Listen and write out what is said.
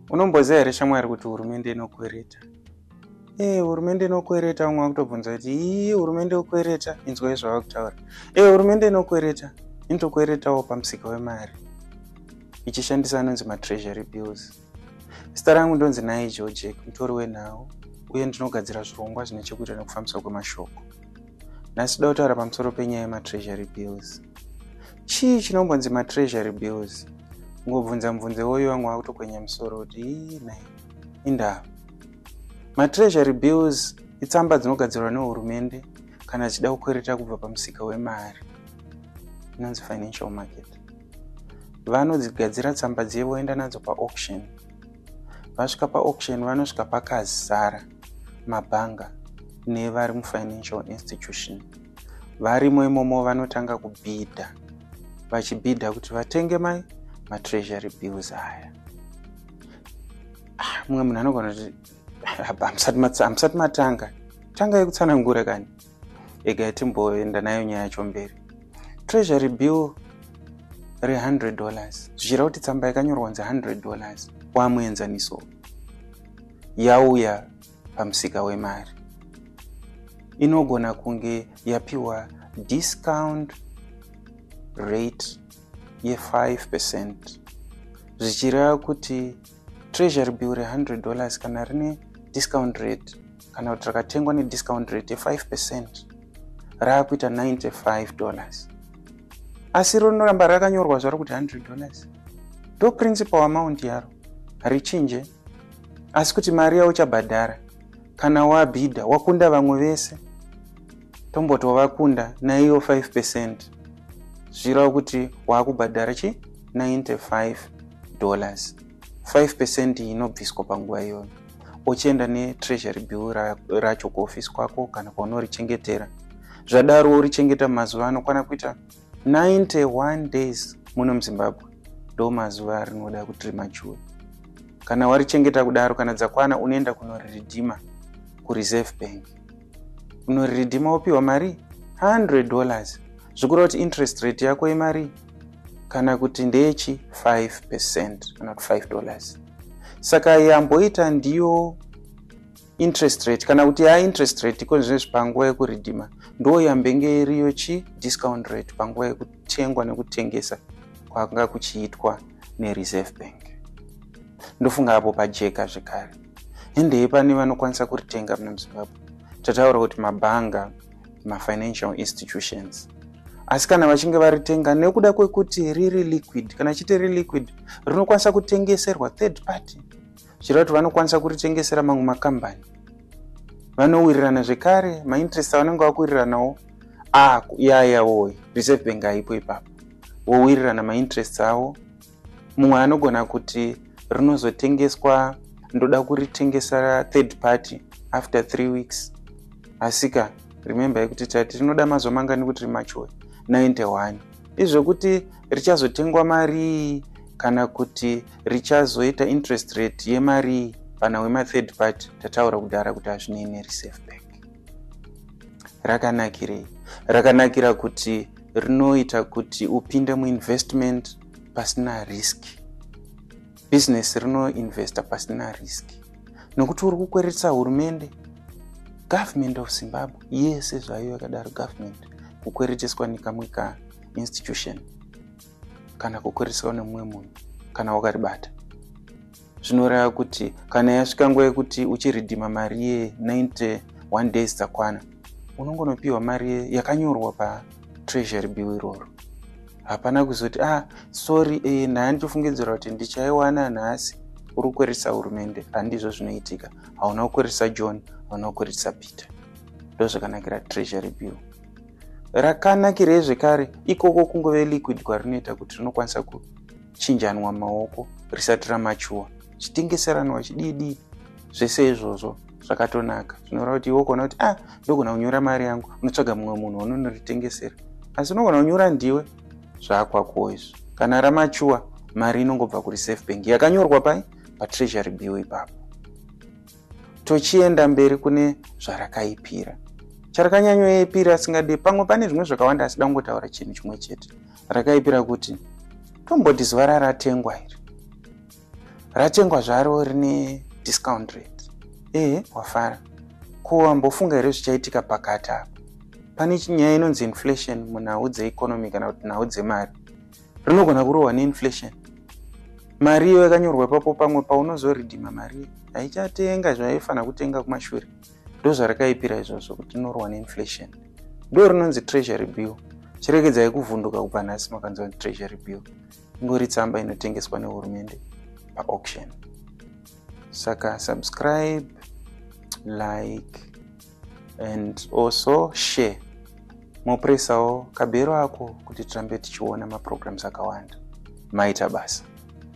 unomboziva here shamwari kuti hurumende inokwereta ee eh, hurumende inokwereta vamwe vakutobvunza kuti ii hurumende yokwereta inzwai zvava kutaura ee eh, hurumende inokwereta inotokweretawo pamusika wemari ichishandisa anonzi matreasury bills zita rangu ndonzi naye georgek mutori wenhau uye ndinogadzira zvirongwa zvine chekuita nekufambiswa kwemashoko nhasi toda kutaura pamusoro penyaya yematreasury bills chii chinongonzi matreasury bills ngobvunza mubvunze woyo vamwe vakutokwenya musoro kuti inai indaa matreasury bills itsamba dzinogadzirwa nehurumende kana dzichida kukwereta kubva pamusika wemari inonzi financial market vanodzigadzira tsamba dziye voenda nadzo paauction vasvika paauction vanosvika pakazara mabhanga nevari mufinancial institution varimo imomo vanotanga kubhidha vachibhidha kuti vatenge mai matreasury bills aya ah, mumwe munhu anogona kuti ah, hamusati matanga tanga yekutsanangura kani ega yatimboenda nayo nyaya yacho mberi treasury bill re100 dollars zvichira kuti tsamba yakanyorwa kunzi 100 dollars wamuenzaniso yauya pamusika wemari inogona kunge yapiwa discount rate ye5 percent zvichireva kuti treasury bill re100 dollars kana rine discount rate kana kuti rakatengwa nediscount rate ye5 percent raakuita 95 dollars asi rinoramba rakanyorwa zvaro kuti 100 dollars ndoprincipal amount yaro harichinje asi kuti mari yauchabhadhara kana wabhidha wakunda vamwe vese tomboti wavakunda naiyo 5 pecent zvirawo kuti waakubhadhara chi 95 dollars 5 pecent inobviswa panguva iyoyo uchienda netreasury bill racho kuofisi kwako kana kwaunori chengetera zvadaro urichengeta mazuva anokwana kuita 91 days muno muzimbabwe ndo mazuva arinoda kuti rimachuwe kana warichengeta kudaro kana dzakwana unoenda kunoriridhima kureserve bank unoriridhima wopiwa mari 100 dollars zvikureva kuti interest rate yako yemari kana kuti ndechi 5 percent kana kuti 5 dollars saka yamboita ndiyo interest rate kana kuti ya interest rate iko zvinezvi panguva yekuridhima ndo yambenge iriyo chi discount rate panguva yekutengwa nekutengesa kwanga kuchiitwa nereserve bank ndofunga apo pajeka zvekare hendei pane vanokwanisa kuritenga muna muzimbabwe tataura kuti mabhanga mafinancial institutions asi kana vachinge varitenga nekuda kwekuti riri liquid kana chiti riri liquid rinokwanisa kutengeserwa third party zvireva kuti vanokwanisa kuritengesera mamwe makambani vanowirirana zvekare mainterest avanenge vakuwiriranawo ah, yaya woye reserve bank haipo ipapo wowirirana mainterest avo mumwe anogona kuti rinozotengeswa ndoda kuritengesa third party after three weeks asika remember yekuti tati rinoda mazuva mangani kuti rimachuwe 91 izvokuti richazotengwa marii kana kuti richazoita interest rate yemarii pana wema third party tataura kudhara kuti hazvinei nereserve bank rakanakirei rakanakira kuti rinoita kuti upinde muinvestment pasina risk business rinoinvesta pasina risk nokuti uri kukweretsa hurumende government of zimbabwe yese zvayo yakadaro government kukwereteswa nekamwe ka institution kana kukwereswa nemumwe munhu kana wakaribata zvinoreva kuti kana yasvika nguva yekuti uchiridhima mari ye 91 days dzakwana unongonopiwa mari yakanyorwa patreasury bill iroro hapana kuzoti ah sorry eh, ndaa ndichifungidzira kuti ndichaiwana nhasi uri kukweresa hurumende handizvo zvinoitika hauna kukweresa john hauna kukweresa peter ndozvakanakira treasury bill rakanakirei zvekare ikoko kungove liquid kwarinoita kuti rinokwanisa kuchinjanwa maoko risati ramachuwa chitengeseranwa chididi zvese izvozvo zvakatonaka zvinoreva kuti iwe ukaona kuti ah ndogona kunyora mari yangu unotsvaga mumwe munhu unonoritengesera asi unogona kunyora ndiwe zvakwakuwo izvo kana ramachuwa mari inongobva kureserve bank yakanyorwa pai patreasury bill ipapo tochienda mberi kune zvarakaipira charkanyanyoipira asingade pamwe pane zvimwe zvakawanda asida kungotaura chinhu chimwe chete rakaipira kuti tomboti zuva raratengwa iri ratengwa zvaro rine discount rate ehe wafara ko wambofunga here zvichaitika pakati apo pane nyaya inonzi inflation munhau dzeeconomy kana kuti nhau dzemari rinogona kurohwa neinflation mari iyo yakanyorwa ipapo pamwe paunozoridhima mari haichatenga zvaifanira kutenga kumashure ndozvarakaipira izvozvo kuti rinorohwa neinflation ndo rinonzi treasury bill chiregedzai kuvhunduka kubva nhasi makanzi vanzi treasury bill ingori tsamba inotengeswa nehurumende paauction saka subscribe like and also share mopuresawo kabhero ako kuti tirambe tichiona maprograms akawanda maita basa